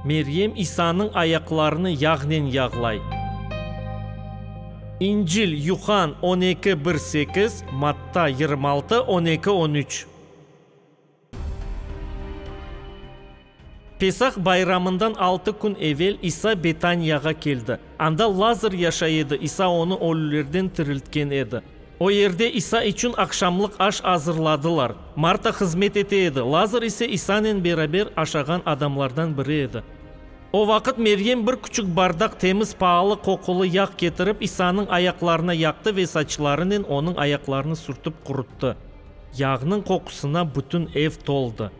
Meryem İsanıñ ayaqlarını yağnen yağlay. İncil, Yuhann, on eki, bir, sekiz, Matta, yirmi altı, on eki, on üç. Pesah bayramından altı kün evel İsa Betaniyağa keldi. Anda Lazır yaşay edi, İsa onı ölülerden tiriltken edi. O yerde İsa içün aqşamlıq aş azırladılar. Marta hızmet ete edi, Lazır ise İsanen beraber aşağan adamlardan biri edi. O vaqıt Meryem bir küçük bardaq temiz paalı qoqulı yağ ketirip, İsanıñ ayaqlarına yaqtı ve saçlarınen onıñ ayaqlarını sürtip quruttı. Yağnıñ qoqusına bütün ev toldı.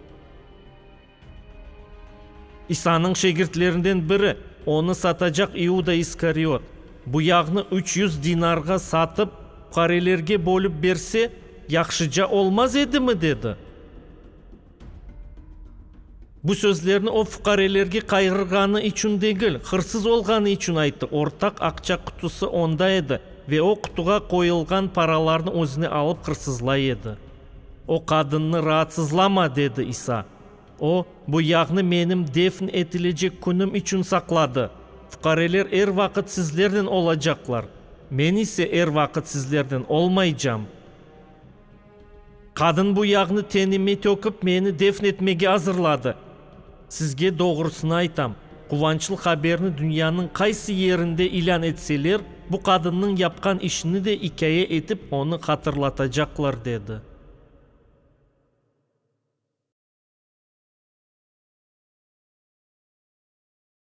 İsanıñ şagirtlerinden biri, onı satacaq İuda İskariot, bu yağnı üç yüz dinarğa satıp, puqarelerge bölip berse, yahşıca olmaz edimi? dedi. Bu sözlerni o, puqarelerge qayğırğanı içün degil, hırsız olğanı içün ayttı. Ortaq aqça qutusı onda edi, ve o, qutuğa qoyulğan paralarnı özüne alıp hırsızlay edi. O qadınnı raatsızlama, dedi İsa. O, bu yağnı menim defn etilecek künüm içün saqladı. Fuqareler er vaqıt sizlernen olacaqlar, men ise er vaqıt sizlernen olmaycam. Qadın bu yağnı tenime tökip, meni defn etmege azırladı. Sizge doğrusını aytam, quvançlı haberni dünyanıñ qaysı yerinde ilân etseler, bu qadınnıñ yapqan işini de ikâye etip onı hatırlatacaqlar, dedi.